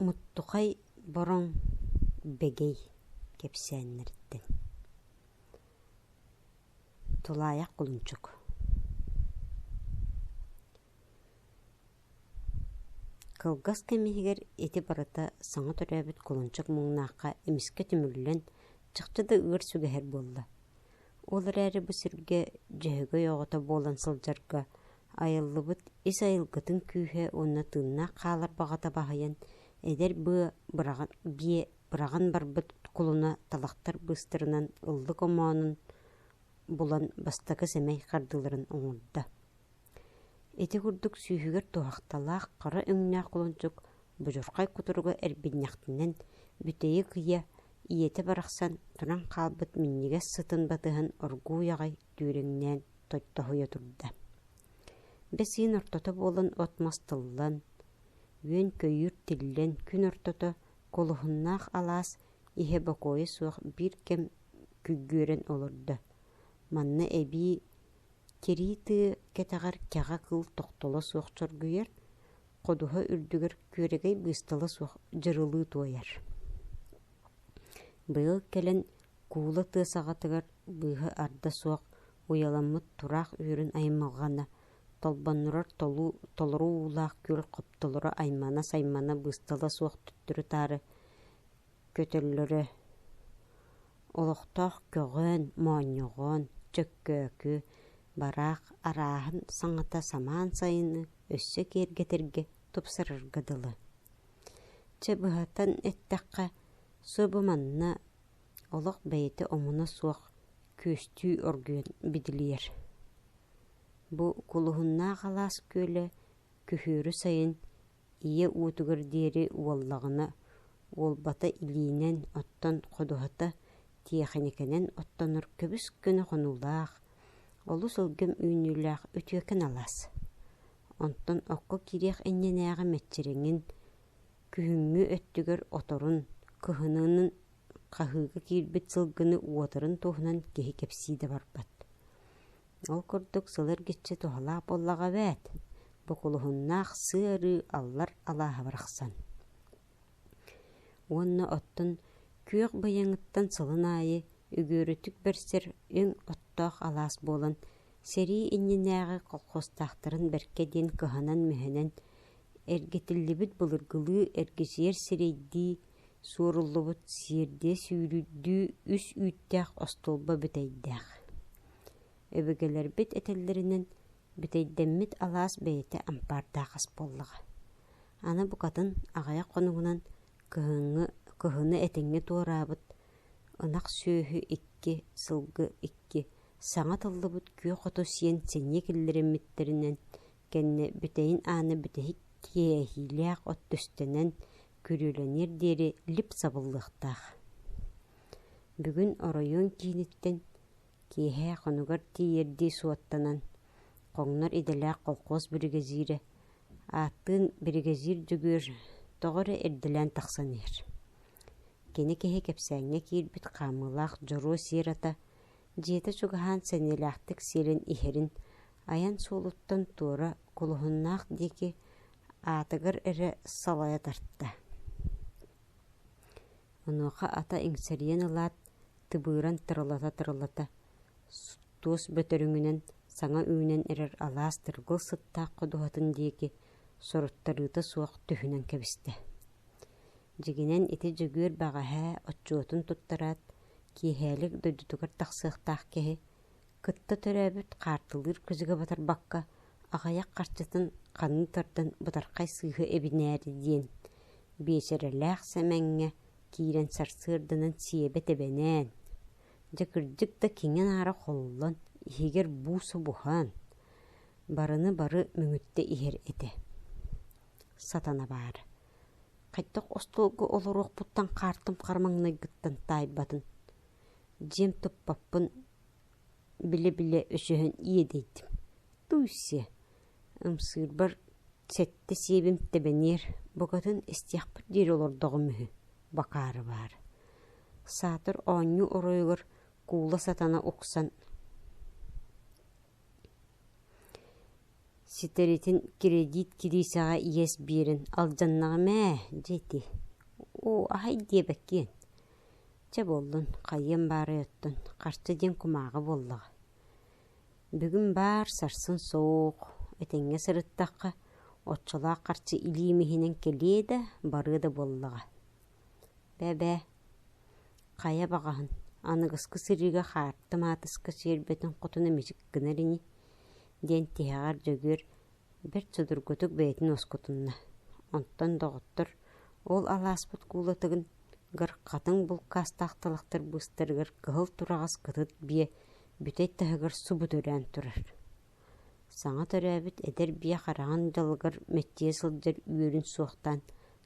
Муттухай Бороҥ Бэгэй кэпсээннэриттэн Тулаайах Кулунчук Кылгас кэм иһигэр ити барыта саҥа төрөөбүт кулунчук муҥнаахха эмискэ түмүллэн чахчы да ыар сүгэһэр буолла Ол эрээри бу сиргэ Дьөһөгөй оҕото буолан сылдьарга айыллыбыт ис айылгытын күүһэ уонна тыыннаах хаалар баҕата баһыйан, эдэр быа быраҕан, биэ быраҕан барбыт кулуна талахтар быыстарынан ыллык омоонун булан бастакы сэмэй хардыыларын оҥордо Ити курдук сүүһүгэр туһахталаах хара өҥнөөх кулунчук будьурхай кутуругу эрбинньэхтинэн бүтэйи кыйа, ийэтэ барахсан туран хаалбыт минньигэс сытын батыһын оргууй аҕай түүрүҥнээн тойтоһуйа турда. Бэс ыйын ортото буолан от-мас тыллан, үөн-көйүүр тиллэн күн ортото кулуһуннаах алаас иһэ бокуойа суох биир кэм күггүөрэн олордо. Манна эбии тирии тыы кэтэҕэр кэҕэ кыыл тохтоло суох чоргуйар, ходуһа үрдүгэр күөрэгэй быыстала суох дьырылыы туойар. Быйыл кэлэн куула тыа саҕатыгар быыһа арда суох уйаламмыт тураах үөрүн аймалҕана, толбоннурар толуу, толору уулаах күл хоптолоро аймана-саймана быыстала суох төттөрү-таары көтөллөрө олохтоох көҕөөн моонньоҕоон Дьөккөөкү бараах арааһын саҥата самаан сайыны өссө киэргэтэргэ тупсарарга дылы чэ быһатан эттэххэ субу манна олох бэйэтэ омуна суох күөстүү оргуйан бидилийэр бу кулуһуннаах алаас күөлэ күһүөрү сайын ийэ уотугар диэри уоллаҕына уолбата илиинэн оттон ходуһата тиэхиньикэнэн оттонор көбүс гына хонуулаах олус ылгым үүнүүлээх үтүөкэн алаас онтон окко киириэх иннинээҕи мэччириҥин күһүҥҥү өттүгэр оторун кыһыныынын хаһыыга киирбит сылгыны уотарын туһунан киһи кэпсии да барбат Ол курдук сыл эргиччи туһалаах буоллаҕа эбээт, букулуһуннаах сыа-арыы аллар алааһа барахсан. Уонна оттон күөх быйаҥыттан сылын аайы үгүөрүтүк бэрсэр үҥ оттоох алаас буолан, сэрии иннинээҕи колхозтаахтарын бэркэ диэн кыһанан-мүһэнэн, эргитиллибит былыргылыы эргичийэр сирэйдии, суоруллубут сиэрдиэ сүүрүйдүү үс үүттээх остуолба бүтэйдээх Өбүгэлэрбит этэллэринэн, бүтэйдэммит алаас бэйэтэ ампаардаах ас буоллаҕа. Аны букатын аҕыйах хонугунан кыһыҥҥы, кыһыны этэҥҥэ туораабыт ынах сүөһү икки, сылгы икки, саҥа тыллыбыт күөх хоту сиэн синньи киллэриммиттэринэн кэннэ бүтэйин аана бүтэһик тиэйиилээх от түстэнэн күрүөлэниэр диэри лип сабыллыахтаах. Бүгүн оройуон кииниттэн Киэһэ хонугар тиийэрдии суоттанан, хоҥнор идэлээх колхоз биригэдьиирэ, ааттыын биригэдьиир Дьөгүөр тоҕо эрэ ирдэлээн тахсан иһэр. Кини киһи кэпсээҥҥэ киирбит хаамыылаах дьоруо сиэр ата, дьиэтэ чугаһаан сэниэлээхтик сиэлин иһэрин айан суолуттан туора кулуһуннаах диэки аатыгар эрэ салайа тарта Онуоха ата иҥсэрийэн ылаат, тыбыыран тырылата-тырылата, туос бөтөрүҥүнэн саҥа үүнэн эрэр алаас тыргыл сыттаах ходуһатын диэки соруттарыыта суох түһүнэн кэбистэ. Дьигинэн ити дьөгүөр бэҕэһээ отчуотун туттараат, киэһээлик дойдутугар тахсыахтаах киһи Кытта төрөөбүт хаартылыыр күзүгэ батарбакка, аҕыйах харчытын ханны тардан бытархай сыыһа эбинээри диэн, биэчэрэлээх Сэмэҥҥэ киирэн сарсыарданан сиэбэ тэбэнээн, дьэ кырдьык да киҥин аара холлон, иһигэр буусу буһан, барыны-бары мөҥүттэ иһэр этэ. Сатана баар. Хайдах остуолга олоруохпуттан хаартым хармаҥнайгыттан таайбатын. Дьиэм туппаппын, Билэ-билэ өсөһөн иэдэйдим, «Туйсе, ымсыырбар сэттэ сиэбим тэбэниэр, букатын истиэхпит диэри олордоҕум үһү, бакаары баар» саатар оонньуу оройугар куула сатана уксан ситэритин кирэдиит кириисэҕэ иэс биэрэн алдьаннаҕым ээ дьэ ити оо аһай диэбэккиэн Чэ буоллун, хайыам баарай оттон, харчы диэн кумааҕы буоллаҕа. Бүгүн баар сарсын суох, этэҥҥэ сырыттахха, оччолоох харчы илиим иһинэн кэлиэ да, барыа да буоллаҕа. Бэбээ, хайа баҕаһын, аныгыскы сырыыга хаарты-маатыска сиэрбэтин хотуна мичик гынар ини диэн тиһэҕэр Дьөгүөр бэрт судургутук бэйэтин уоскутунна. Онтон доҕоттор ол алааспыт куулатыгын гар хатыҥ булкаастаах талахтар быыстарыгар кыһыл тураҕас кытыт биэ бүтэй таһыгар субу төрөөн турар. Саҥа төрөөбүт эдэр биэ хараҕын дьалыгар мэттийэ сылдьар үөрүн суохтаан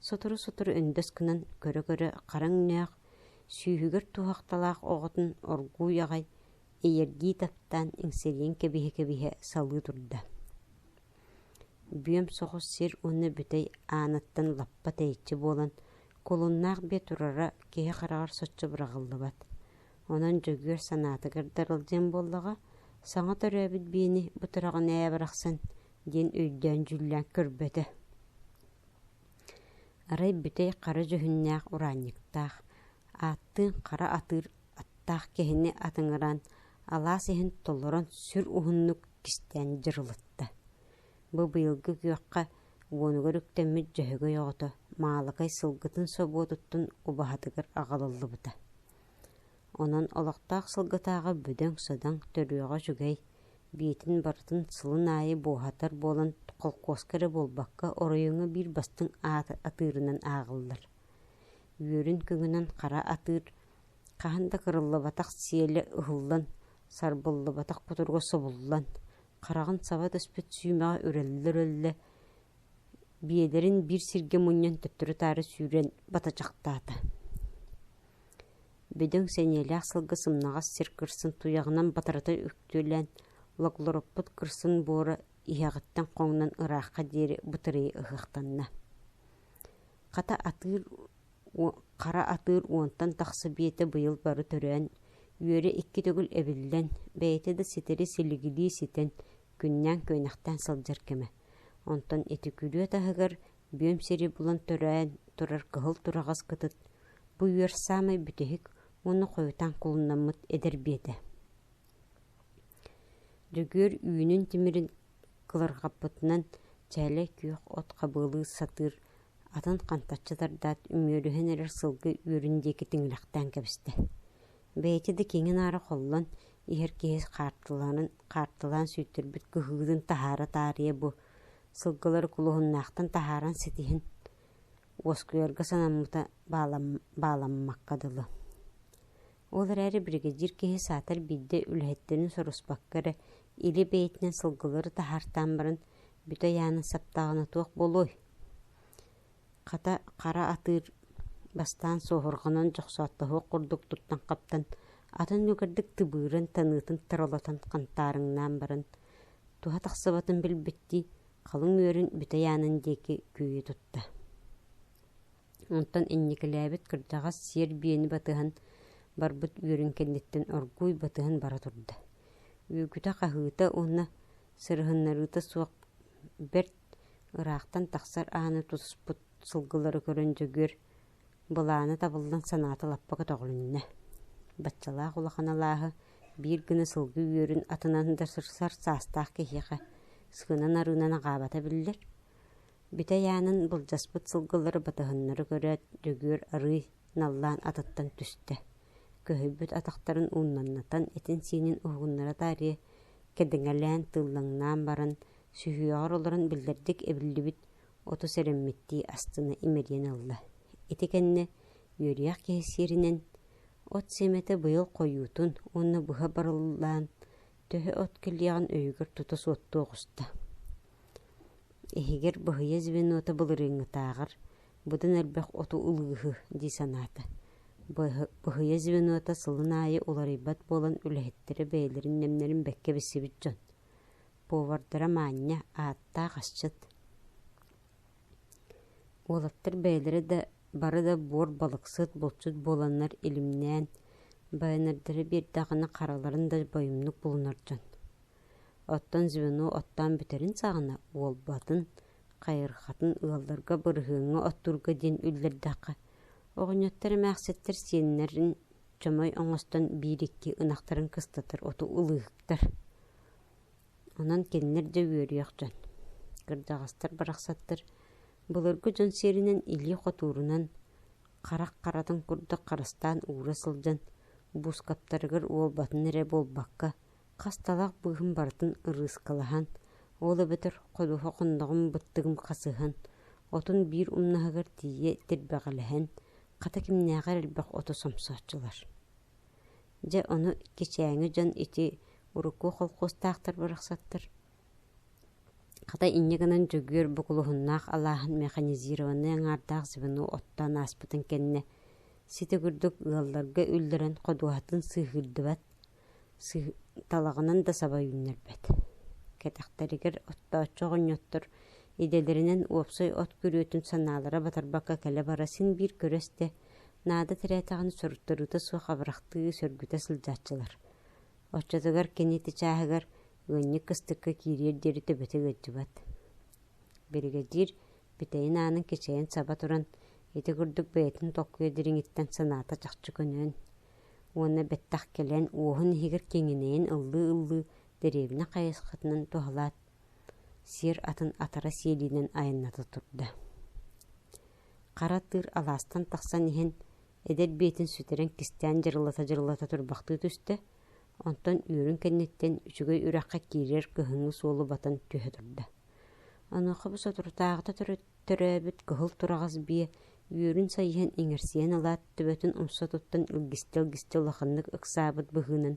сотору-сотору өндөс гынан көрө-көрө хараҥ нөөх, сүүһүгэр туһахталаах оҕотун оргууй аҕай Эйэргии таптаан иҥсирийэн кэбиһэ-кэбиһэ салыы турда. Бүөм соҕус сир уонна бүтэй ааныттан лаппа тэйиччи буолан, кулуннаах биэ турара киһи хараҕар соччо быраҕыллыбат. Онон Дьөгүөр санаатыгар дарылдьыан буоллаҕа, саҥа төрөөбүт биэни бутураҕын ээ барахсан диэн өйдөөн-дьүүллээн көрбөтө. Арай бүтэй хара дьүһүннээх ураанньыктаах, ааттыын хара атыыр таах киһини атыҥыран, алаас иһин толорон сүр уһуннук кистээн дьырылытта. Бу быйылгы күөххэ уонугар үктэммит дьөһөгөй оҕото Маалыкай сылгытын собуотуттан убаһатыгар аҕалыллыбыта. Онон олохтоох сылгытааҕы бүдөҥ-садаҥ, төрүөҕэ үчүгэй, биитин барытын сылын аайы буоһатар буолан, холкуоска эрэ буолбакка, оройуоҥҥа биир бастыҥ ааты атыырынан ааҕыллар. Үөрүн күҥүнэн хара атыыр Хаһан да кырыллыбатах сиэлэ ыһыллан, сарбыллыбатах кутуруга собуллан, хараҕын саба түспүт сүүмэҕэ үрэллэ-үрэллэ, биэдэрин биир сиргэ мунньан төттөрү-таары сүүрэн батачахтаата. Бөдөҥ сэниэлээх сылгы сымнаҕас сир кырсын туйаҕынан батарыта үктүөлээн логлороппут кырсын буора иһэҕиттэн хоҥнон ыраахха диэри бытырыйа ыһыахтанна. Хата атыыр хара атыыр уонтан тахса биэтэ быйыл бары төрөөн, үөрэ икки төгүл эбиллэн, бэйэтэ да ситэри-силигилии ситэн, күннээн-күөнэхтээн сылдьар кэмэ. Онтон ити күрүө таһыгар бүөм сири булан төрөөн турар кыһыл тураҕас кытыт, бу үөр саамай бүтэһик уонна хойутаан кулуннаммыт эдэр биэтэ. Дьөгүөр үүнүн тимирин кыларҕаппытынан чээлэй күөх от хабыалыы сатыыр атын хантаччы тардаат, үмүөрүһэн эрэр сылгы үөрүн диэки тиҥилэхтээн кэбистэ. Бэйэтэ да киҥин-аары холлон, иһэр киһи хаартылаанын хаартылаан сүүйтэрбит кыһыытын таһаара таарыйа бу, сылгылары кулуһуннаахтан таһааран ситиһин, уоскуйарга санаммыта баалам, бааламмакка дылы. Ол эрээри бригадир киһи саатар биирдэ үлэһиттэрин соруспакка эрэ, илэ бэйэтинэн сылгылары таһаартаан баран, Бүтэ айаана саптаҕына туох буолуой? Хата, хара атыыр бастаан суоһурҕанан дьохсооттоһуох курдук туттан хаптан, атын үгэрдик тыбыырын, таныытын таролотон хантаарыҥнаан баран, туһа тахсыбатын билбиттии, халыҥ үөрүн бүтэ айаанын диэки күөйэ тутта Онтон инникилээбит кырдьаҕас сиэр биэни батыһан барбыт үөрүн кэнниттэн оргууй батыһан бара турда. Үүкүтэ-хаһыыта уонна сырыһыннарыыта суох бэрт ыраахтан тахсар ааны тутуспут сылгылары көрөн Дьөгүөр былаана табыллан санаата лаппа көтөҕүлүннэ. Баччалаах улахан алааһы биир гына сылгы үөрүн атынан да сырсар саастаах киһиэхэ сыынан-арыынан аҕаабата биллэр. Бүтэй аанын былдьаспыт сылгылары батыһыннары көрөөт, Дьөгүөр арыый наллаан атыттан түстэ, көһүйбүт атахтарын ууннаннатан этин-сиинин уһугуннара таарыйа, кэдэҥэлээн тыыллаҥнаан баран, сүһүөҕэр олорон биллэрдик эбиллибит оту сэрэммиттии астына имэрийэн ылла. Ити кэннэ үөрүйэх киһи сиэринэн от сиэмэтэ быйыл хойуутун уонна быһа барыллаан, төһө от кэлиэҕин өйүгэр тута суоттуо оҕуста. Иһигэр быһыйа звенота былырыыҥҥытааҕар быдан элбэх оту ылыыһы дии санаата. Быһыйа звенота сылын аайы уларыйбат буолан үлэһиттэрэ бэйэлэрин нэмнэрин бэккэ билсибит дьон. Повардара маанньа, ааттаах асчыт Уолаттар бэйэлэрэ да бары да буор балыксыт, булчут буоланнар илимнээн, байанардара биэрдэҕинэ хараларын да бойумнук булунар дьон. Оттон звено оттоон бүтэрин саҕана уолбатын, хайысхатын ыалларга бырыһыаҥҥа оттуурга диэн үллэрдэххэ, оҕонньоттор эмээхситтэр сиэннэрин чомой оҥостон биир-икки ынахтарын кыстатар оту ылыыһыктар Онон кинилэр да үөрүөхтэн. Кырдаҕастар барахсаттар былыргы дьон сиэринэн илии хотуурунан, харах харатын курдук харыстаан уура сылдьан, буускаптарыгар уолбатын эрэ буолбакка, хасталаах быыһым барытын ырыыскалаһан, ол эбэтэр ходуһа хонноҕум быттыгым хасыһан, отун биир умнаһыгар тиийэ тирбэҕэлэһэн, хата кимнээҕэр элбэх оту сомсооччулар Дьэ ону кичээҥи дьон ити урукку холкуостаахтар барахсаттар хата инньэ гынан дьөгүөр букулуһуннаах алааһын механизированнай аҥаардаах звено оттоон ааспытын кэннэ сити курдук ыалларга үллэрэн ходуһатын сыыһыырдыбат, сыыһ... талаҕынан да саба үүннэрбэт. Кэтэхтэригэр оттооччу оҕонньоттор идэлэринэн уопсай от күрүөтүн санаалара батарбакка кэлэ-бара син биир көрө-истэ Наада тирээтэҕин соруттарыыта суох абырахтыы сөргүтэ сылдьааччылар. Оччотугар кини ити чааһыгар ыанньык кыстыкка киириэр диэри төбөтө ыалдьыбат. Биригэдьиир бүтэйин аанын кичэйэн саба туран, ити курдук бэйэтин толкуйа дириҥиттэн санаата чахчы көнөөн уонна бэттэх кэлэн уоһун иһигэр киҥинэйэн ыллыы-ыллыы дэриэбинэ хайысхатынан туһалаат, сиэр атын атара сиэлиинэн айанната турда Хара тыыр алаастан тахсан иһэн, эдэр биэтин сүтэрэн кистээн дьырылата-дьырылата турбахтыы түстэ, онтон үөрүн кэнниттэн үчүгэй үрэххэ киирэр кыһыҥҥы суолу батан түһэ турда. Онуоха бу соторутааҕыта төрөөбүт кыһыл тураҕас биэ үөрүн сайыһан иҥэрсийэн ылаат, төбөтүн умса туттан илгистэ-илгистэ улаханнык ыксаабыт быһыынан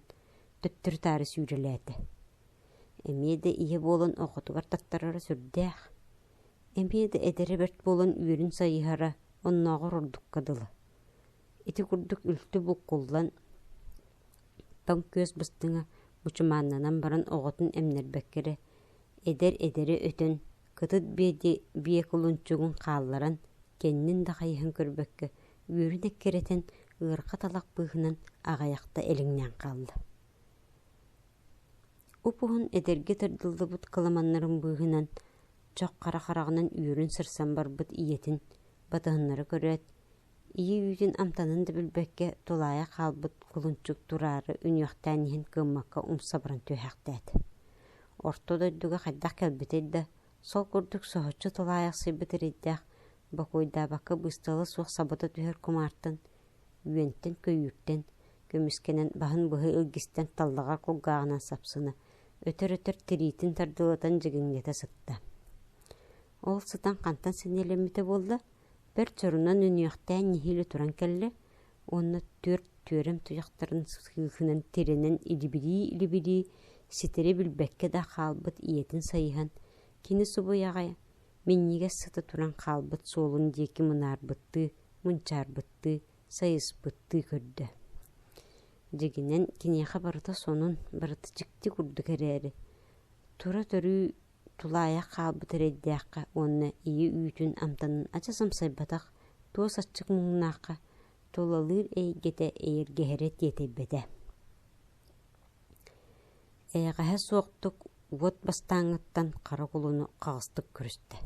төттөрү-таары сүүрэлээтэ. Эмиэ да ийэ буолан оҕотугар таттарара сүрдээх. Эмиэ да эдэрэ бэрт буолан үөрүн сайыһара оннооҕор ордукка дылы. Ити курдук үлтү буккуллан, тоҥ күөс быстыҥа мучумааннанан баран оҕотун эмнэрбэккэ эрэ, эдэр эдэри өтөн, кытыт биэрди биэ кулунчугун хаалларан, кэннин да хайыһан көрбөккө, үөрүн эккирэтэн, ыарҕа талах быыһынан аҕайахта элиҥнээн хаалла Уп-уһун эдэргэ тардыллыбыт кыламаннарын быыһынан, чох хара хараҕынан үөрүн сырсан барбыт ийэтин батыһыннара көрөөт, ийэ үүтүн амтанын да билбэккэ тулаайах хаалбыт кулунчук тураары үнүөхтээн иһэн кыаммакка умса баран түһээхтээт, орто дойдуга хайдах кэлбитэй да, сол курдук соһуччу тулаайахсыйбыт эрэйдээх, бокуойдаабакка быыстала суох сабыта түһэр кумаартан үөнтэн-көйүүртэн, көмүскэнэн баһын быһа илгистэн таллаҕа кулгааҕынан сапсына, өтөр-өтөр тириитин тардылатан дьигиҥнэтэ сытта. Ол сытан хантан сэниэлэммитэ буолла, бэрт чорунан үнүөхтээн нэһиилэ туран кэллэ уонна түөрт түөрэм туйахтарын сыыһынан тирэнэн илибирии-илибирии ситэри билбэккэ да хаалбыт ийэтин сайыһан, кини субуйаҕай минньигэс сыта туран хаалбыт суолун диэки мунаарбыттыы мунчаарбыттыы сайыспыттыы көрдө дьигинэн киниэхэ барыта сонун барыта дьикти курдук эрээри тура төрүү тулаайах хаалбыт эрэйдээххэ уонна ийэ үүтүн амтанын ача самсайбатах туос аччык муҥнаахха тулалыыр эйгэтэ эйэргэһэрэ тиэтэйбэтэ Эйэҕэһэ суохтук уот бастааҥҥыттан хара кулуну хаҕыстык көрүстэ.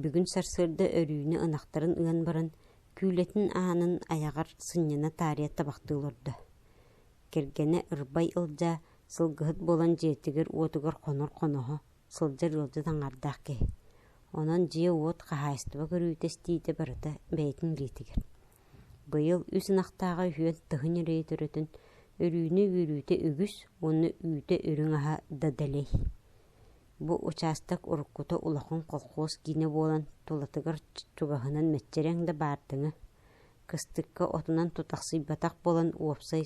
Бүгүн сарсыарда өрүүнэ ынахтарын ыан баран, күүлэтин аанын айаҕар сынньана таарыйа табахтыы олордо. Кэргэнэ ырбай ылдьа, сылгыһыт буолан дьиэтигэр-уотугар хонор хоноһо сылдьар ыалдьыт аҥаардаах киһи. Онон дьиэ-уот, хаһаайыстыба көрүүтэ истиитэ барыта бэйэтин билиитигэр. Быйыл үс ынахтааҕа үһүөн тыһын эрэйи төрөтүн, өрүүнэ үөрүүтэ үгүс уонна үүтэ үрүҥ аһа да дэлэй. Бу учаастак уруккута улахан колхоз киинэ буолан, тулатыгар чугаһынан мэччирэҥ да баардыҥа. Кыстыкка отунан тутахсыйбатах буолан, уопсай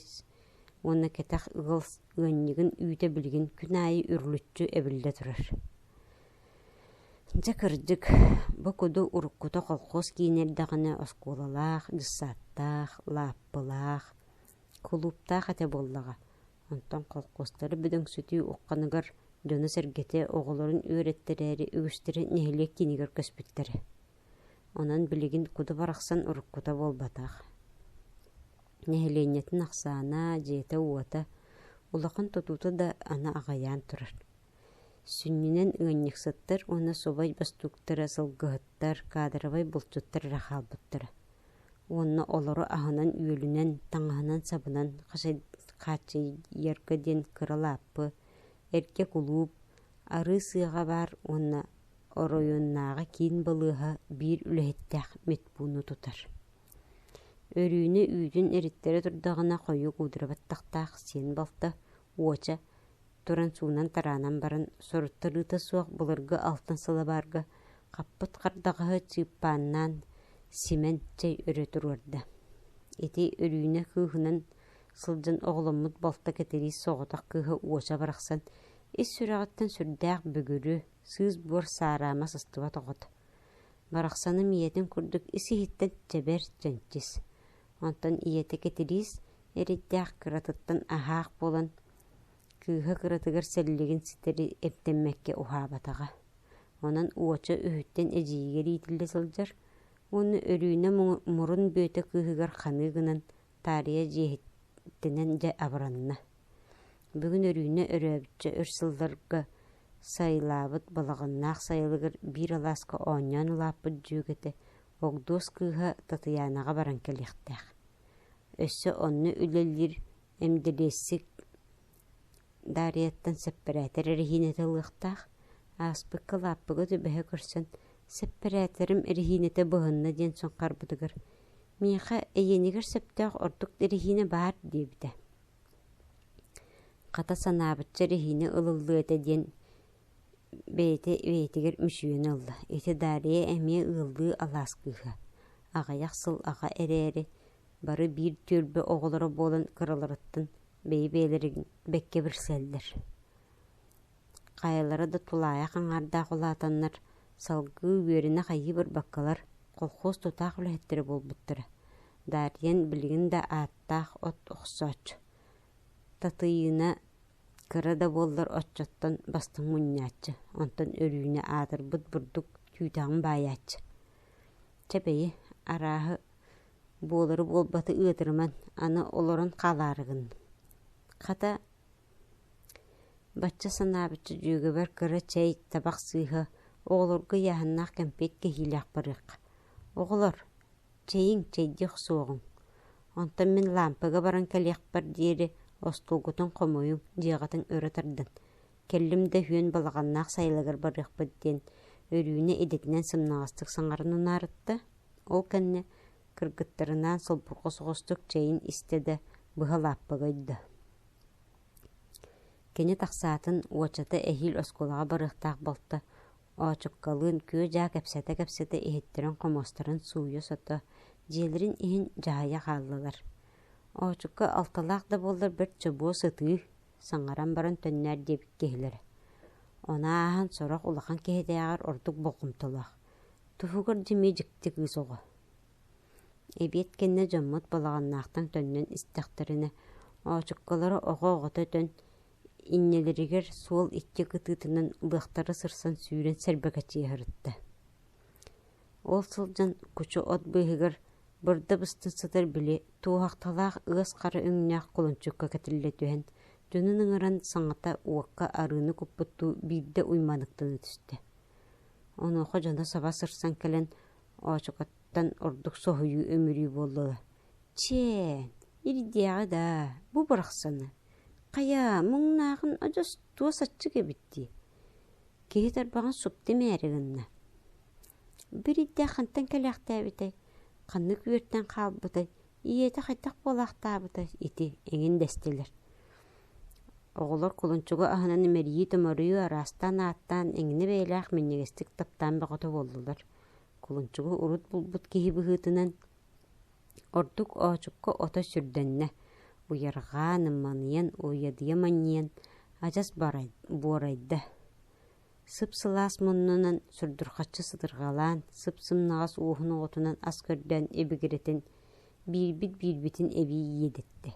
уонна кэтэх ыал ыанньыгын үүтэ билигин күн аайы үрүлүччү эбиллэ турар Дьэ кырдьык, бу куду уруккута колхоз киин эрдэҕинэ оскуолалаах, дьыссааттаах, лааппылаах, кулууптаах этэ буоллаҕа. Онтон колхозтары бөдөҥсүтүү ухханыгар дьоно-сэргэтэ оҕолорун үөрэттэрээри үгүстэрэ нэһилиэк киинигэр көспүттэрэ. Онон билигин куду барахсан уруккута буолбатах. нэһилиэнньэтин ахсаана, дьиэтэ-уота, улахан тутуута да аны аҕыйаан турар. Сүнньүнэн ыанньыксыттар уонна субай бастууктара, сылгыһыттар, кадровай булчуттар эрэ хаалбыттара. Уонна олору аһынан-үөлүнэн, таҥаһынан-сабынан хааччыйарга диэн кыра лааппы, эргэ кулууп, арыы сыаҕа баар уонна оройуоннааҕы киин балыыһа биир үлэһиттээх медпууну тутар Өрүүнү үүтүн ириттэрэ турдаҕына хойук уудура баттахтаах сиэн балта уоча туран суунан-тараанан баран соруттарыыта суох былыргы алтан сылабаарга хаппыт хардаҕаһы чыыппааннаан симэн чэй өрө туруорда. Ити Өрүүнэ кыыһынан сылдьан оҕоломмут балта Кэтириис соҕотох кыыһа уоча барахсан ис сүрэҕиттэн сүрдээх бүгүрү, сыыс буор саараама сыстыбат оҕото. Барахсаным ийэтин курдук ис-иһиттэн чэбэр, чэнчис. Онтон ийэтэ Кэтириис эрийдээх кыратыттан аһаах буолан, кыыһа кыратыгар сэллигин ситэри эмтэммэккэ уһаабатаҕа. Онон уоча үһүттэн эдьиийигэр иитиллэ сылдьар уонна Өрүүнэ мурун Бүөтэ кыыһыгар ханыы гынан таарыйа дьиэһиттэнэн дьэ абыранна. Бүгүн Өрүүнэ өрөөбүччэ өр сылларга сайылаабыт балаҕаннаах сайылыгар биир алааска оонньоон улааппыт дьүөгэтэ Огдуос кыыһа Татыйаанаҕа баран кэлиэхтээх. Өссө онно үлэлиир эмдэлиэссик Дарияттан сэппэрээтэр эрэһиинэтэ ылыахтаах, ааспыкка-лааппыга түбэһэ көрсөн, сэппэрээтэрим эрэһиинэтэ быһынна диэн суҥхарбытыгар «Миэхэ эйиэнигэр сөптөөх ордук эрэһиинэ баар» диэбитэ. Хата санаабычча эрэһиинэ ылыллыа этэ диэн бэйэтэ бэйэтигэр мүчүйэн ылла. Ити Дария эмиэ ыаллыы алаас кыыһа. Аҕыйах сыл аҕа эрээри, Бары биир түөлбэ оҕолоро буолан кыраларыттан бэйэ-бэйэлэрин бэккэ билсэллэр. Хайалара да тулаайах аҥаардаах улаатаннар, салгыы үөрэнэх айыы барбаккалар колхоз тутаах үлэһиттэрэ буолбуттара. Дариан билигин да ааттаах от охсооччу. Татыйыына кыра да буоллар оччоттон бастыҥ мунньааччы, онтон Өрүүнэ аатырбыт бурдук түүтэҕин баайааччы. Чэ бэйи, арааһы буолары буолбаты ыатырыман аны олорон хаалаары гынным хата бачча санаабычча дьүөгэбэр кыра чэй табах сыыһа оҕолорго ыйааһыннаах кэмпиэт кэһиилээх барыахха оҕолор чэйиҥ чэйдиэх суоҕуҥ онтон мин лаампыга баран кэлиэхпэр диэри остуолгутун хомуйуҥ дьиэҕитин өрө тардан кэллим да үһүөн балаҕаннаах сайылагар барыахпыт диэн өрүүнэ идэтинэн сымнаҕастык саҥаран унаарытта Ол кэннэ кыргыттарынаан солбурҕу соҕустук чэйин истэ да, быһа лааппыга ойдо. Кини тахсаатын уочата эһиил оскуолаҕа барыахтаах балта оочуккалыын күө-дьаа кэпсэтэ-кэпсэтэ иһиттэрин-хомуостарын сууйа-сото, дьиэлэрин иһин дьаһайа хааллылар. Оочукка алталаах да буоллар бэрт чобуо сытыы, саҥаран баран төннөөр диэбит киһилэрэ. Ону ааһан сорох улахан киһитээҕэр ордук болҕомтолоох. Туһугар дьиҥи дьикти кыыс оҕо. Эбиэт кэннэ дьоммут балаҕаннаахтан төннөн истэхтэринэ, оочуккалара оҕо оҕото өтөн, иннилэригэр суол икки кытыытынан быахтара сырсан сүүрэн сэрбэкэчийэ сырытта. Ол сылдьан кучу от быыһыгар бырда быстан сытар били туоһахталаах ыас хара өҥнөөх кулунчукка кэтиллэ түһэн, дьонун ыҥыран саҥата уокка арыыны куппуттуу биирдэ уйманыктана түстэ. Онуоха дьоно саба сырсан кэлэн оочукаттан ордук соһуйуу-үмүрүү буоллулар: «Чээн, ирдиэҕэ даа, бу барахсаны! Хайа, муҥнааҕын одьостоос аччык эбит дии!» Киһи тарбаҕын супту имээри гынна. «Бу ирдэ хантан кэлээхтээбитэй, ханнык үөртэн хаалбытай, ийэтэ хайдах буолаахтаабытай ити эҥин дэстилэр Оҕолор кулунчугу аһынан имэрийии-томоруйуу араастаан-ааттаан эҥинэ бэйэлээх минньигэстик таптаан бөҕөтө буоллулар. Кулунчугу урут булбут киһи быһыытынан ордук оочукка ото сүрдэннэ, уйарҕаан, ымманыйан, уойадыйа манньыйан адьас буорайда. Сып-сылаас муннунан сурдурхаччы сытырҕалаан, сып-сымнаҕас ууһун оҕотунан ас көрдөөн ибигирэтин, биирбит-биирбитин эбии иэдэттэ.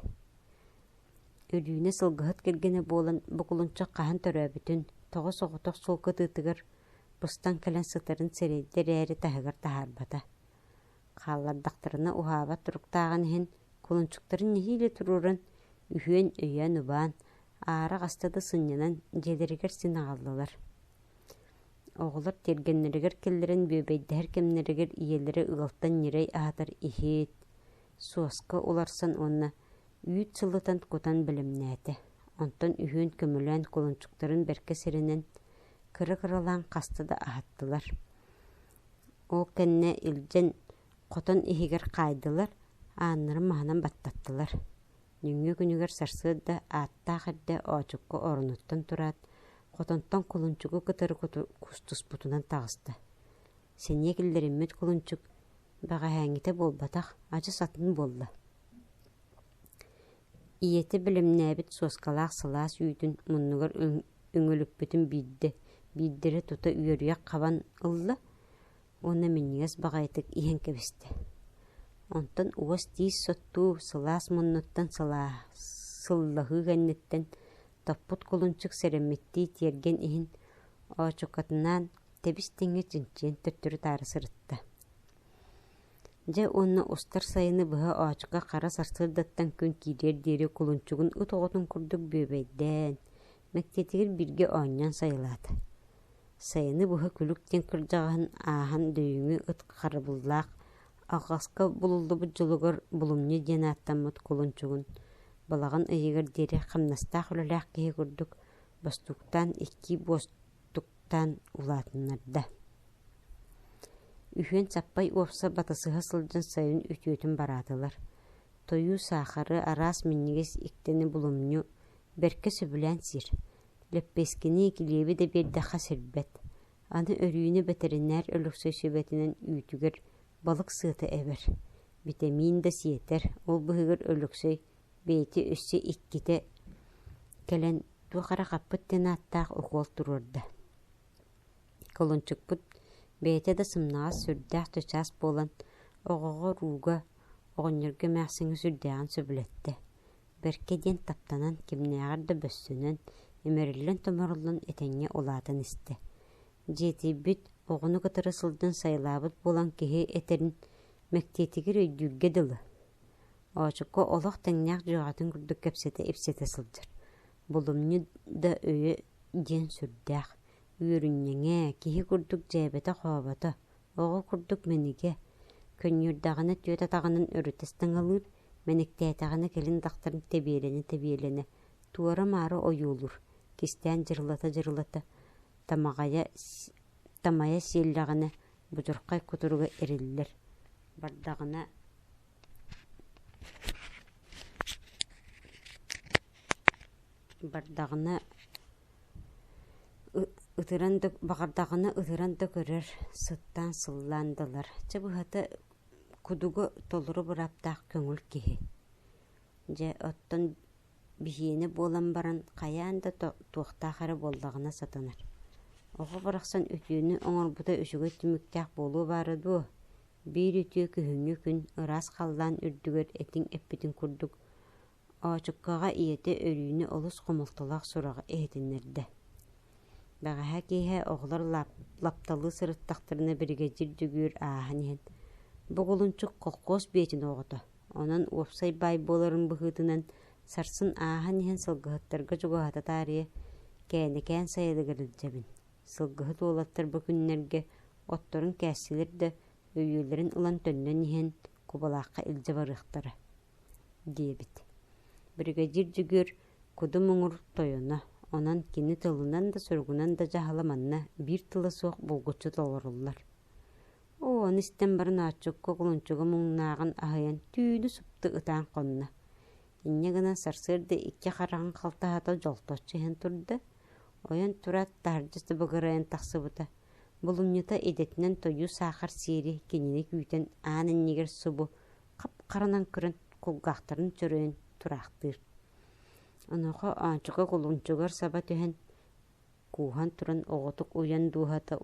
Өлүүнэ сылгыһыт кэргэнэ буолан бу кулунчах хаһан төрөөбүтүн, тоҕо соҕотох суол кытыытыгар быстан кэлэн сытарын сирэйдэ эрээри таһыгар таһаарбата. Хааллардахтарына уһаабат туруктааҕын иһин кулунчуктарын нэһиилэ туруоран, үһүөн-өйөөн-убаан, аара хаста да сынньанан дьиэлэригэр син аҕаллылар. Оҕолор тиэргэннэригэр киллэрэн бүөбэйдэһэр кэмнэригэр ийэлэрэ ыалтан ньирэй аһатар иһит, суоска уларсан уонна үүт сылытан кутан бэлэмнээтэ, онтон үһүөн көмүлээн кулунчуктарын бэркэ сиринэн кыра-кыралаан хаста да аһаттылар. Ол кэннэ илдьэн хотон иһигэр хаайдылар, ааннарын маһынан баттаттылар. Нөҥүө күнүгэр сарсыарда ааттаах эрдэ оочукка оронуттан тураат, хотонтон кулунчугу кытары кустуспутунан таҕыста. сэниэ киллэриммит кулунчук бэҕэһээҥҥитэ буолбатах адьас атын буолла ийэтэ бэлэмнээбит суоскалаах сылаас үүтүн муннугар үҥүлүппүтүн биирдэ биирдэрэ тута үөрүйэх хабан ылла уонна минньигэс баҕайытык иһэн кэбистэ онтон уос тиис соттуу сылаас муннуттан сылаа сыллаһыы кэнниттэн топпут кулунчук сэрэммиттии тиэргэн иһин оочукатынаан тэбис-тэҥҥэ чинчийэн төттөрү-таары сырытта дьэ уонна устар сайыны быһа оочука хара сарсыардаттан күн киириэр диэри кулунчугун ыт оҕотун курдук бүөбэйдээн мэктиэтигэр бииргэ оонньоон сайылаата сайыны быһа күлүк диэн кырдьаҕаһын ааһан дөйүҥү ыт харабыллаах алҕаска булуллубут дьолугар булумньу диэн ааттаммыт кулунчугун балаҕан ыйыгар диэри хамнастаах үлэлээх киһи курдук бостууктаан икки буос туктаан улаатыннарда үһүөн саппай уопсай батысыһа сылдьан сайын үтүөтүн бараатылар тойуу саахары араас минньигэс иктини булумньу бэркэ сөбүлээн сиир лэппиэскини килиэби да биэрдэххэ сирбэт аны өрүүнү бэтэринээр өлөксөй сүбэтинэн үүтүгэр балык сыата эбэр битэмиин да сиэтэр ол быһыгар өлөксөй бэйэтэ өссө иккитэ кэлэн туох эрэ хаппыт диэн ааттаах укуол туруорда. Кулунчукпут бэйэтэ да сымнаҕас сүрдээх чычаас буолан, оҕоҕо рууга, оҕонньорго эмээхсиҥҥэ сүрдээҕин сөбүлэттэ. Бэркэ диэн таптанан, кимнээҕэр да бөссөнөн, имэриллэн-томоруллан этэҥҥэ улаатан истэ. Дьиэтийбит, оҕону кытары сылдьан сайылаабыт буолан киһи этэрин мэктиэтигэр өйдүүргэ дылы. Оочукка олох тэҥнээх дьүөҕэтин курдук кэпсэтэ-ипсэтэ сылдьар. Булумньу да өйө диэн сүрдээх. Үөрүнньэҥэ, киһи курдук дьээбэтэ-хообото, оҕо курдук мэнигэ. Көнньүүрдэҕинэ түөт атаҕынан өрүтэ стаҥалыыр, мэниктээтэҕинэ кэлин дахтарын тэбиэлэнэ-тэбиэлэнэ, туора-маары ойуулуур, кистээн дьырылата-дьырылата, тамаҕайа, тамайа сиэллэҕинэ будурхай кутуруга эриллэр, бардаҕына Бардаҕына ытыран да баҕардаҕына ытыран да көрөр, сыттаан сыллаан да ылар. Чэ быһата кудугу толору бырааптаах көҥүл киһи. Дьэ оттон Биһиэнэ буолан баран хайаан да туохтаах эрэ буоллаҕына сатанар: «Оҕо барахсан үтүөнү оҥорбута үчүгэй түмүктээх буолуо баара дуо? Биир үтүө күһүҥҥү күн ыраас халлаан үрдүгэр этиҥ эппитин курдук» Оочуккаҕа ийэтэ өрүүнэ олус хомолтолоох сураҕы иһитиннэрдэ: «Бэҕэһээ киэһэ оҕолор лапталыы сырыттахтарына биригэдьиир дьөгүөр ааһан иһэн: "Бу Кулунчук холкуос бээтин оҕото Онон уопсай баай буоларын быһыытынан, сарсын ааһан иһэн сылгыһыттарга чугаһата таарыйа, кээнэкээн сайылыгар илдьэбин. Сылгыһыт уолаттар бу күннэргэ отторун кээстилэр да, өйүүллэрин ылан төннөн иһэн, кубалаахха илдьэ барыахтара, диэбит. Бригадир Дьөгүөр куду муҥур тойоно, онон кини тылынан да суругунан да дьаһала манна биир тыла суох булгуччу толоруллар. Оо, аны истэн баран ааччыкка кулунчуга муҥнааҕын аһыйан түүнү-супту ытаан хонно. Инньэ гынан сарсыарда икки хараҕын халтаһата дьолточчу иһэн турда, ойон тураат таһырдьа сыбыгырайан тахсыбыта, булумньута идэтинэн тойуу саахар сиэри кинини күүтэн аан иннигэр субу хап-харанан көрөн кулгаахтарын чөрөйөн тураахтыыр. Онуоха оончука кулунчугар саба түһэн: кууһан туран оҕотук уйан дууһата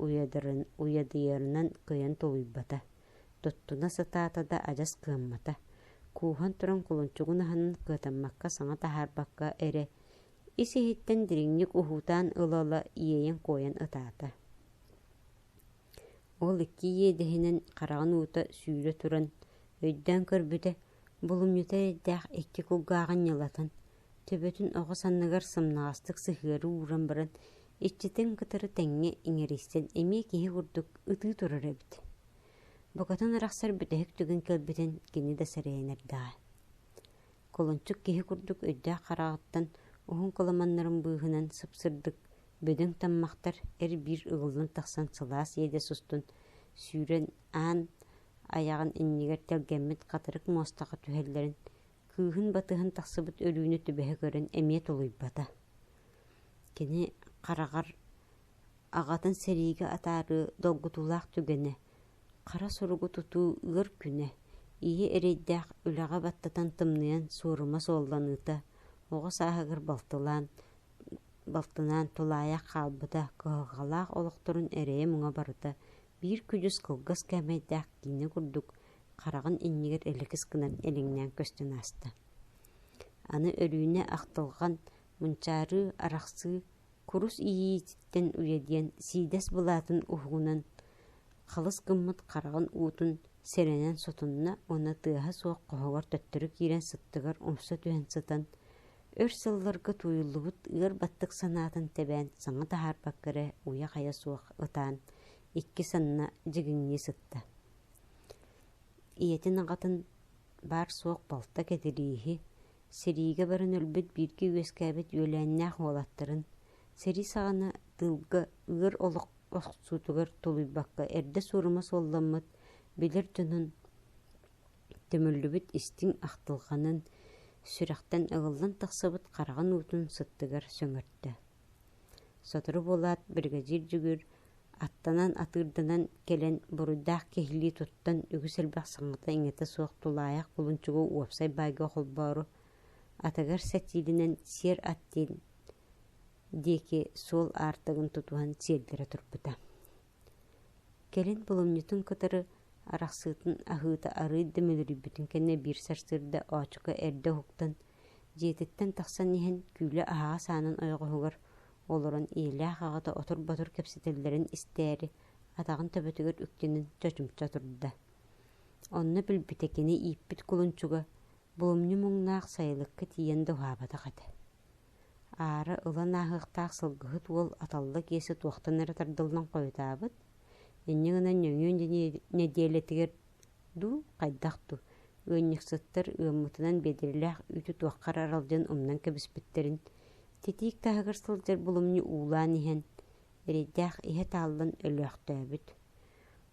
уйадыйарынан кыйан тулуйбата туттуна сатаата да адьас кыаммата кууһан туран кулунчугун аһынан кыатаммакка саҥа таһаарбакка эрэ ис иһиттэн дириҥник уһуутаан ыла-ыла иэйэн куойан ытаата Ол икки иэдэһинэн хараҕын уута сүүрэ туран, өйдөөн көрбүтэ, булумньута эрэйдээх икки кулгааҕын ньылатан, төбөтүн оҕус анныгар сымнаҕастык сыһыары ууран баран, иччитин кытары тэҥҥэ иҥэристэн эмиэ киһи курдук ытыы турар эбит. Букатын арахсар бүтэһик түгэн кэлбитин кини да сэрэйэн эрдэҕэ Кулунчук киһи курдук үрдээх хараҕыттан уһун кыламаннарын быыһынан сыпсырдык, бөдөҥ таммахтар эр-биир ыгыллан тахсан сылаас иэдэ сустун сүүрэн аан айаҕын иннигэр тэлгэммит хатырык муостаха түһэллэрин, кыыһын батыһан тахсыбыт өлүүнү түбэһэ көрөн эмиэ тулуйбата. Кини хараҕар аҕатын сэриигэ атаарыы долгутуулаах түгэнэ Хара суругу тутуу ыар күнэ, ийэ эрэйдээх үлэҕэ баттатан тымныйан суорума суолланыыта, оҕо сааһыгар балтылаан, балтынаан тулаайах хаалбыта, кыһалҕалаах олохторун эрэйэ-муҥа барыта биир күдьүс кылгас кээмэйдээх киинэ курдук хараҕын иннигэр элэкис гынан элэҥнээн көстөн ааста. Аны Өрүүнэ ахтылҕан, мунчаарыы, арахсыы курус иьиититтэн уйа диэн сиидэс былаатын уһугунан халыс гыммыт хараҕын уутун сэрэнэн сотунна уонна тыаһа суох хоһугар төттөрү киирэн сыттыгар умса түһэн сытан өр сылларга тууйуллубут ыар баттык санаатын тэбээн саҥа таһаарбакка эрэ уйа-хайа суох ытаан икки санна дьигиҥнии сытта ийэтин аҕатын баар-суох балта кэтирииһи, сэриигэ баран өлбүт бииргэ үөскээбит үөлээннээх уолаттарын, сэрии саҕана тыылга ыар олох охсуутугар тулуйбакка эрдэ суорума суолламмыт билэр дьонун төмөллүбүт истиҥ ахтылҕанын, сүрэхтэн ыгыллан тахсыбыт хараҕын уутун сыттыгар сөҥөртө Сотору буолаат, биригэдьиир Дьөгүөр аттанан, атыырданан кэлэн, буруйдаах киһилии туттан, үгүс элбэх саҥата-иҥэтэ суох тулаайах булунчугу уопсай баайга холбоору, атыгар сэтиилинэн сиэр ат диэн диэки суол аартыгын тутуһан сиэллэрэ турбута Кэлин булумньутун кытары арахсыытын аһыыта арыый да мөлүрүйбүтүн кэннэ биир сарсыарда оочука эрдэ уһуктан, дьиэтиттэн тахсан иһэн күүлэ аһаҕас аанын ойоҕоһугар олорон ийэлээх аҕата отур-ботур кэпсэтэллэрин истээри, атаҕын төбөтүгэр үктэнэн чочумча турда. Онно билбитэ кини ииппит кулунчуга Буомньу муҥнаах сайылыкка тиийэн да уһаабатах этэ. Аара ылан ааһыахтаах сылгыһыт уол аталла киэсэ туохтан эрэ тардыллан хойутаабыт, инньэ гынан нөҥүө нэдиэлэтигэр дуу, хайдах дуу, ыанньыксыттар ыаммытынан биэдэрэлээх үүтү туохха эрэ аралдьан умнан кэбиспиттэрин, титиик таһыгар сылдьар булумньу уулаан иһэн, эрэйдээх иһэ тааллан өлөөхтөөбүт.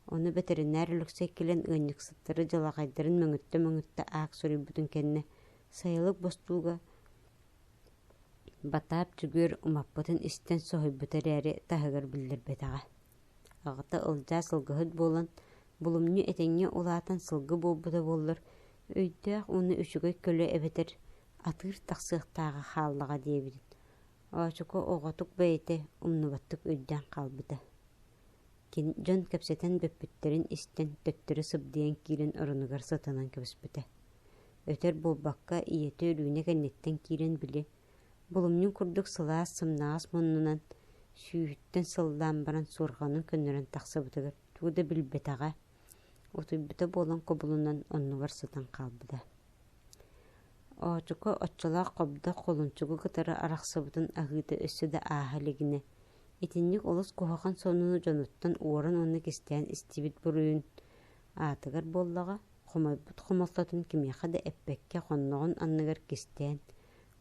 Ону бэтэринээр Алексей кэлэн ыанньыксыттары дьалаҕайдарын мөҥүттэ-мөҥүттэ аак суруйбутун кэннэ, сайылык бостууга Батаап Дьөгүөр умаппытын истэн соһуйбута эрээри, таһыгар биллэрбэтэҕэ. Аҕата Ылдьаа сылгыһыт буолан, булумньу этэҥҥэ улаатан сылгы буолбута буоллар, өйдөөх уонна үчүгэй көлө эбэтэр атыыр тахсыахтааҕа хааллаҕа диэбитин, Оочуку оҕотук бэйэтэ умнубаттык өйдөөн хаалбыта. Кини дьон кэпсэтэн бүппүттэрин истэн, төттөрү сыбдыйан киирэн оронугар сатанан кэбиспитэ. Өтөр буолбакка, ийэтэ Өлүүнэ кэнниттэн киирэн били, булумньун курдук сылаас сымнаҕас муннунан, сүүһүттэн сыллаан баран суорҕанын көннөрөн тахсыбытыгар тугу да билбэтэҕэ, утуйбута буолан кубулунан оннугар сытан хаалбыта. Оочука оччолоох хобдох холунчугу кытары арахсыбытын аһыыта өссө да ааһа илигинэ, Итинник олус куһаҕан сонуну дьонуттан уоран уонна кистээн истибит буруйун аатыгар буоллаҕа, хомойбут хомолтотун кимиэхэ да эппэккэ хонноҕун анныгар кистээн,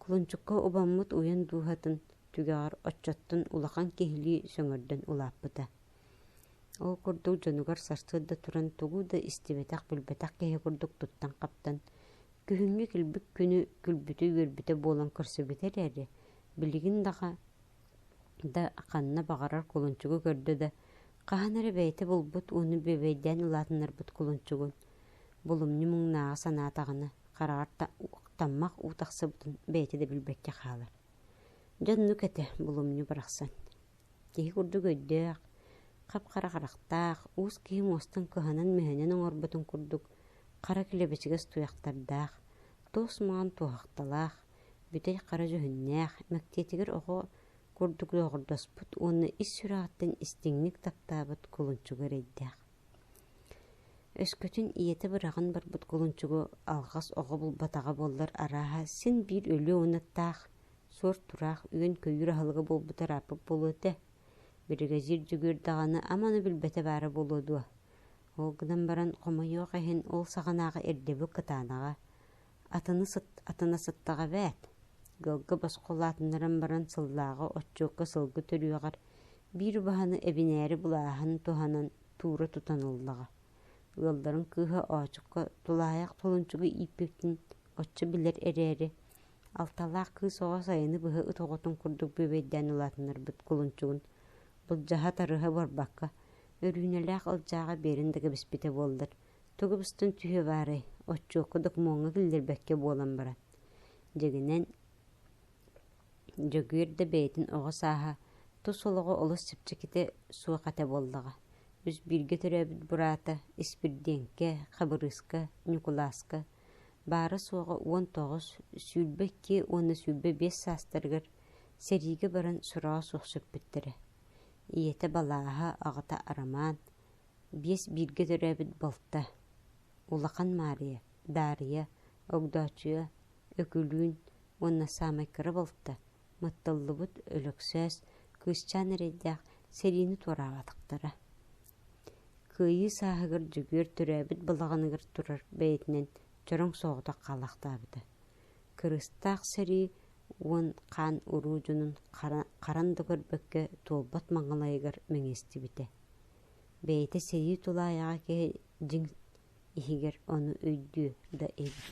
кулунчукка убаммыт уйан дууһатын түгэҕэр оччоттон улахан киһилии сөҥөрдөн улааппыта. Ол курдук дьонугар сарсыарда туран тугу да истибэтэх-билбэтэх киһи курдук туттан-хаптан, күһүҥҥү килбик күнү күлбүтэ-үөрбүтэ буолан көрсүбүтэ эрээри, билигин даҕа да ханна баҕарар кулунчугу көрдө да хаһан эрэ бэйэтэ булбут ууну бүөбэйдээн улаатыннарбыт кулунчугун булумньу муҥнааҕа санаатаҕына хараҕар таммах уу тахсыбытын бэйэтэ да билбэккэ хаалар дьон ну кэтэ булумньу барахсан киһи курдук өйдөөх хап-хара харахтаах уус киһи муостан кыһанан-мүһэнэн оҥорботун курдук хара килэбэчигэс туйахтардаах туос маҥан туоһахталаах бүтэй-хара дьүһүннээх, мэктиэтигэр оҕо курдук дьооҕурдаспыт уонна ис сүрэҕиттэн истиҥник таптаабыт кулунчуга эрэйдээх. Өскөтүн ийэтэ быраҕан барбыт кулунчугу алҕас оҕо булбатаҕа буоллар арааһа син биир өлүө уонна таах, суор-тураах үөн-көйүүр аһылыга буолбута ырааппыт буолуо этэ. Биригэдьиир дьөгүөр даҕаны аманы билбэтэ баара буолуо дуо? Ол гынан баран хомойуох иһин ол саҕанааҕы ирдэбил кытаанаҕа, Атыны сыт, атына сыттаҕа эбээт, ыалга босхо улаатыннаран баран сыллааҕы отчуокка сылгы төрүөҕэр биир убаһаны эбинээри булааһын туһанан туура тутан ыллаҕа. Ыалларын кыыһа оочукка тулаайах толунчугу ииппиппин оччо билэр эрээри, алталаах кыыс оҕо сайыны быһа ыт оҕотун курдук бүөбэйдээн улаатыннарбыт кулунчугун былдьаһа-тарыһа буорбакка, өрүүнэлээх ылдьааҕа биэрин да кэбиспитэ буоллар, Тугу быстын түһүө баарай, отчуокка докумуоҥҥа киллэрбэккэ буолан баран. Дьэгинэн Дьөгүөр да бэйэтин оҕо сааһа, тус олоҕо олус чэпчэкитэ суох этэ буоллаҕа. Үс бииргэ төрөөбүт бураата Испирдиэҥкэ, Хабырыыска, Ньукулааска, баара-суоҕа уон тоҕус, сүүрбэ икки уонна сүүрбэ биэс саастарыгар сэриигэ баран сороҕо суох сүппүттэрэ. Ийэтэ балааһа, аҕата Арамаан, биэс бииргэ төрөөбүт балта Улахан Маарыйа, Даарыйа, Огдооччуйа, Өкүлүүн уонна саамай кыра балта Матталлыбыт Өлөксөөс кыысчаан эрэйдээх сэриини туораабатахтара. Кыайыы сааһыгар Дьөгүөр төрөөбүт балаҕаныгар турар бэйэтинэн чороҥ соҕотох хаалаахтаабыта. Кырыстаах сэрии уон хаан уруудьунун харан да көрбөккө туолбат маҥалайыгар мэҥэстибитэ. бэйэтэ сэрии тулаайаҕа киһи дьиҥ иһигэр ону өйдүө да эбит